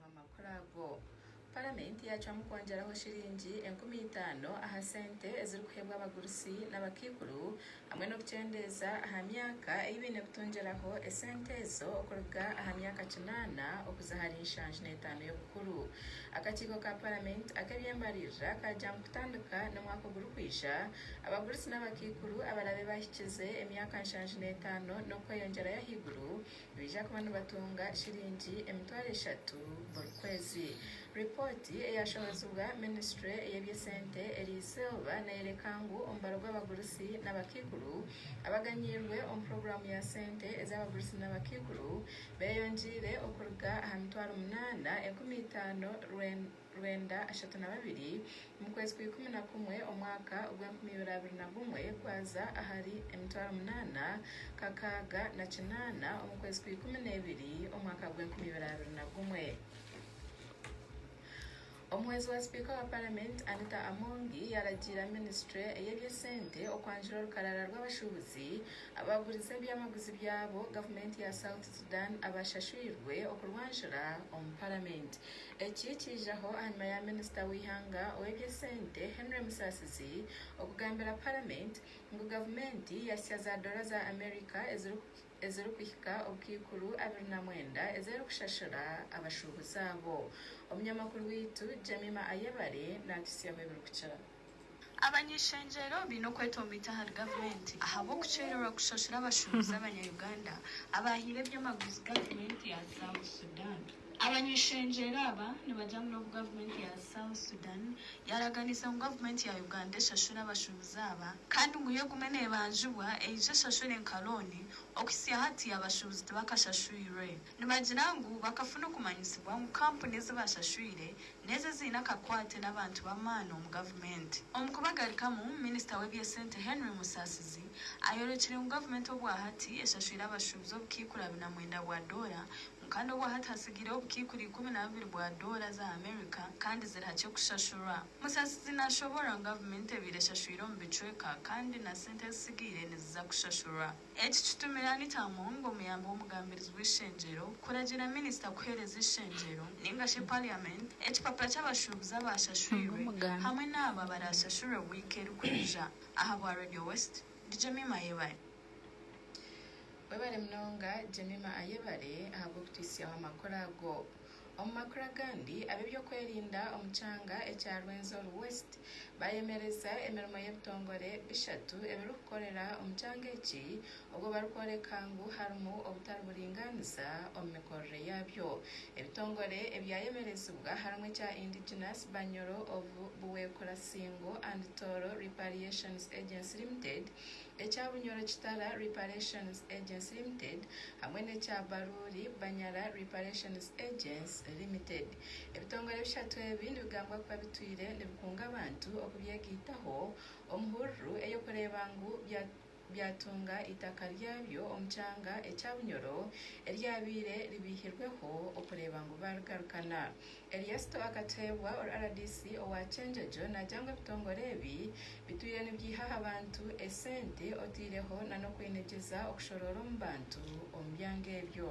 Amakuru ago. Paramenti yacwamu kwongyeraho shiringi enkumi itaano aha sente ezirikuheebwa abagurusi n'abakaikuru hamwe n'okukyendeeza aha myaka ei baine kutungyiraho esente ezo okuruga aha myaka kinaana okuza ahari nshanju n'etaano y'obukuru. Akakiiko ka Paramenti ak'eby'embaririra kagyamu kutandika n'omwaka ogurikwija abagurusi n'abakaikuru abarabe bahikize emyaka nshanju n'etaano n'okweyongyerayo ahaiguru nibaija kuba nibatunga shiringi emitwaro eshatu buri kwezi. Ripooti eyaashomesibwa minisitule y'eby'esente eri izooba neeyoreka ngu omubaro gw'abagurusi n'abakaikuru abaganyirwe omu puroguraamu ya sente ez'abagurusi n'abakaikuru beeyongyeire okuruga aha mitwaro munaana enkumi itaano rwenda rwenda ashatu na babiri omu kwezi kwa ikumi na kumwe omwaka ogw'enkumi ibiri abiri na gumwe gwaza ahari emitwaro munaana kakaaga na kinaana omu kwezi kwa ikumi n'ebiri omwaka gw'enkumi ibiri abiri na gumwe. Omuhwezi wa sipiika wa paramenti Anita Amongi yaragiira minisitule ey'ebyesente okwanjura orukarara rw'abashuubuzi abagurize ebyamaguzi byabo gavumenti ya South Sudan abashashwirwe okurwanjura omu paramenti. Eki kiijaho ahanyima ya minisita w'eihanga ow'ebyesente Henry Musasizi okugambira paramenti ngu gavumenti yahitsya za dora za America ezirikuhika obukaikuru abiri na mwenda ez'erikushashura abashuubuzi abo. Omunyamakuru waitu Jemima Ayebare naatuhitsyamu ebirikukira. Abany'ishengyero baine okwetomita ahari gavumenti ahabw'okukyererwa kushushura abashubuzi abanya-Uganda abaahaire eby'amaguzi gavumenti ya South Sudan. Abany'ishengyero aba nibagira ngu n'obu gavumenti ya South Sudan yaaraganiise ngu gavumenti ya Uganda eshashure abashubuzi aba kandi ngu yo egume neebanjibwa, eija eshashure nka looni, okuhitsya hati abashubuzi tibakashashwirwe. Nibagira ngu bakafuna okumanyisibwa ngu kampuni ezi bashashwire n'ezo eziine akakwate n'abantu b'amaani omu gavumenti. Omu kubagarukamu, minisita w'eby'esente Henry Musasizi ayorekire ngu gavumenti obwahati eshashwire abashuubuzi obukaikuru abiri na mwenda bwa doora, ngu kandi obwahati hatsigireho obukaikuru ikumi na bubiri bwa doora za America kandi ziri hakye kushashurwa. Musasizi nashoboorora ngu gavumenti ebaire eshashwire omu bicweka kandi na sente ezitsigaire niziza kushashurwa. Eki kitumire Anita Among, omuyambi w'omugambirizi w'eishengyero, kuragira minisita kuheereza eishengyero ninga shi parliament ekipapura ky'abashuubuzi abaashashwirwe hamwe n'abo abaraashashurwe wiiki erikwija. Aha bwa Radio West, ndi Jemima Ayebare. Webare munonga Jemima Ayebare ahabw'okutwitsyaho amakuru ago. Omu makuru agandi, ab'ebyokwerinda omu kyanga ekya Rwenzori West baayemereza emirimo y'ebitongore bishatu ebirikukorera omu kyanga eki obwo barikworeka ngu harimu obutari buringaaniza omu mikorere yaabyo. Ebitongore ebyayemerezibwa harimu ekya Indigenous Banyoro of Buweekula Singo and Tooro Repariations Agency Limited ekya Bunyoro Kitara Reparations Agents Limited hamwe n'ekya Baruuri Banyara Reparations Agents Limited. Ebitongore bishatu ebi nibigambwa kuba bitwire nibikunga abantu okubyegaitaho omu hururu ey'okureeba ngu byatunga eitaka ryabyo omu kyanga ekya Bunyoro eryabaire ribaihirweho okureeba ngu baarigarukana. Eryasto akateebwa RDC owa Kyenjojo nagya ngu ebitongore ebi bitwire nibyiha aha bantu esente oteireho na n'okwinegyeza okushoroora omu bantu omu byanga ebyo.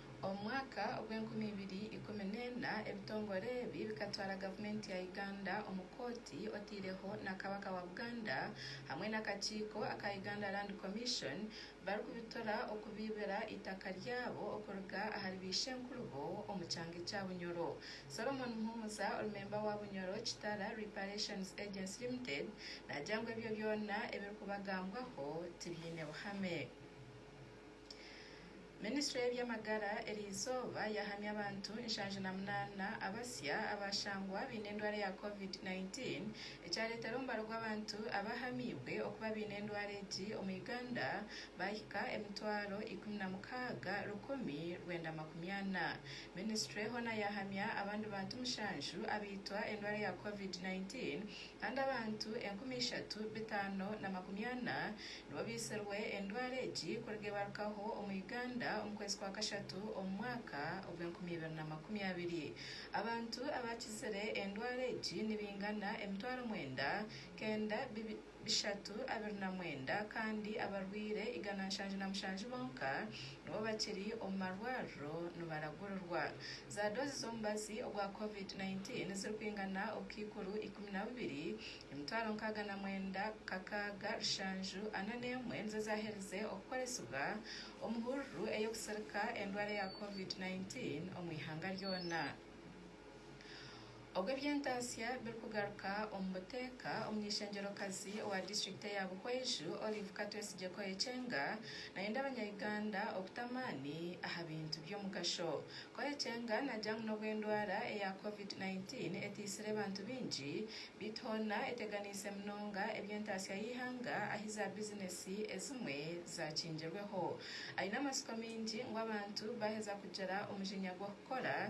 Omu mwaka ogw'enkumi ibiri ikumi n'ena, ebitongore ebi bikatwara gavumenti ya Uganda omu kooti otaireho na Kabaka wa Buganda hamwe n'akakiiko aka Uganda Land Commission barikubitura okubaibira eitaka ryabo okuruga ahari baishenkurubo omu kyanga ekya Bunyoro. Solomon Muhumuza ori memba wa Bunyoro Kitara Reparations Agency Limited naagira ngu ebyo byona ebirikubagambwaho tibiine buhame. Minisitule y'eby'amagara eri izooba yahamya abantu nshanju na munaana abasya abaashangwa baine endwara ya covid 19 ekyareetera omubare gw'abantu abahamiibwe okuba baine endwara egi omu Uganda baahika emitwaro ikumi na mukaaga rukumi rwenda makumi ana. Minisitule hoona yahamya abandi bantu mushanju abaitwa endwara ya covid 19 kandi abantu enkumi ishatu bitaano na makumi ana nibo baitsirwe endwara egi kuruga ebarukaho omu Uganda omu kwezi kwa kashatu omu mwaka ogw'enkumi ibiri na makumi abiri. Abantu abakizire endwara egi nibingana emitwaro mwenda kenda bishatu abiri na mwenda kandi abarwaire igana nshanju na mushanju bonka nibo bakiri omu marwariro nibaragurirwa. Za doozi z'omubazi ogwa Covid nineteen zirikwingana obukaikuru ikumi na bubiri, emitwaro nkaaga na mwenda, kakaaga, rushanju, ana n'emwe nizo zaaherize okukoresibwa omu hururu ey'okutsirika endwara ya Covid nineteen omu ihanga ryona. Obwo eby'entaatsya birikugaruka omu buteeka, omuny'eishengyero-kazi owa disiturikiti eya Buhweju, Olive Katwesigye Koekyenga, nayenda abanya-Uganda okuta amaani aha bintu by'omugasho. Koekyenga nagira ngu n'obu endwara eya Covid nineteen etaitsire bantu baingi, beitu hoona eteganiise munonga eby'entaatsya y'eihanga ahi za bizinesi ezimwe zaakingirweho. Aine amatsiko maingi ngu abantu baaheza kugira omujinya gw'okukora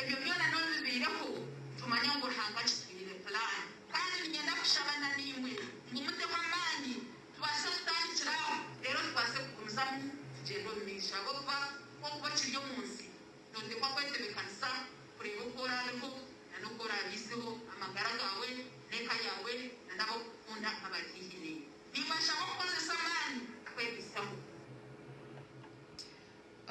Ebyo byona n'obu bibaireho, tumanye ngu Ruhanga akitwiniire pulaani. Kandi niinyenda kushaba na naimwe ngu muteho amaani tubaase kutandikira aho, reero tubaase kugumizamu tugyende omu maisho. Ahabw'okuba ku okuba okiri omu nsi, nooteekwa kwetebeekanisa kureeba oku oraabeho na n'oku oraabaiseho amagara gaawe n'eka yaawe na n'abarikukunda abari haihi naiwe. Nimbashaba kukozesa amaani kwebiisaho.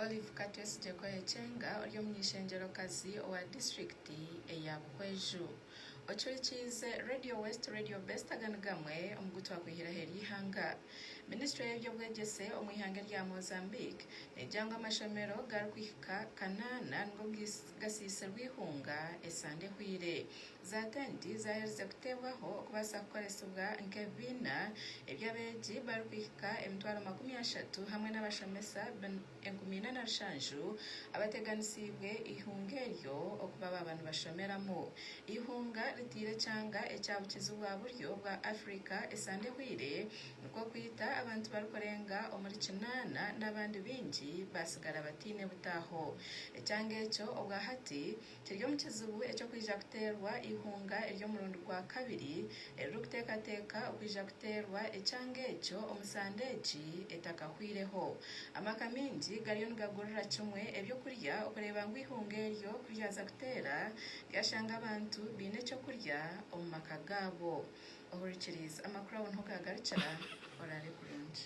Olive Katwesigye Koyekyenga ori omw'eishengyerokazi owa disiturikiti eya Buhweju. Ocwekyiize Radio West Radio Best aga ni gamwe omu gu twakwihiraho eri ihanga. Minisitule y'eby'obwegyese omu ihanga erya Mozambique neegira ngu amashomero gari kuhika kanaana nigo gasiisirwe eihunga esande ehweire. Za tenti zaaherize kuteebwaho okubaasa kukoresibwa nk'ebibiina eby'abeegi barikuhika emitwaro makumi ashatu hamwe n'abashomesa enkumi ina na rushanju abateganisiibwe eihunga eryo okuba baaba nibashomeramu. Eihunga ritaire ekyanga ekya bukizi bwa buryo bwa Afrika esande ehweire nikwo kwita abantu barikurenga omuri kinaana n'abandi baingi baatsigara bataine butaaho. Ekyanga ekyo obwahati, Kiri omu kizibu eky'okwija kuteerwa eihunga ery'omurundi gwa kabiri eririkuteekateeka okwija kuteerwa ekyanga ekyo omu sande egi etakahwireho. Amaka maingi gariyo nigagurira kimwe eby'okurya okureeba ngu eihunga eryo ku ryaza kuteera ryashanga abantu baine eky'okurya omu maka gaabo. Ohurikiriize amakuru aho niho gaagarukira. Oraare kurungi.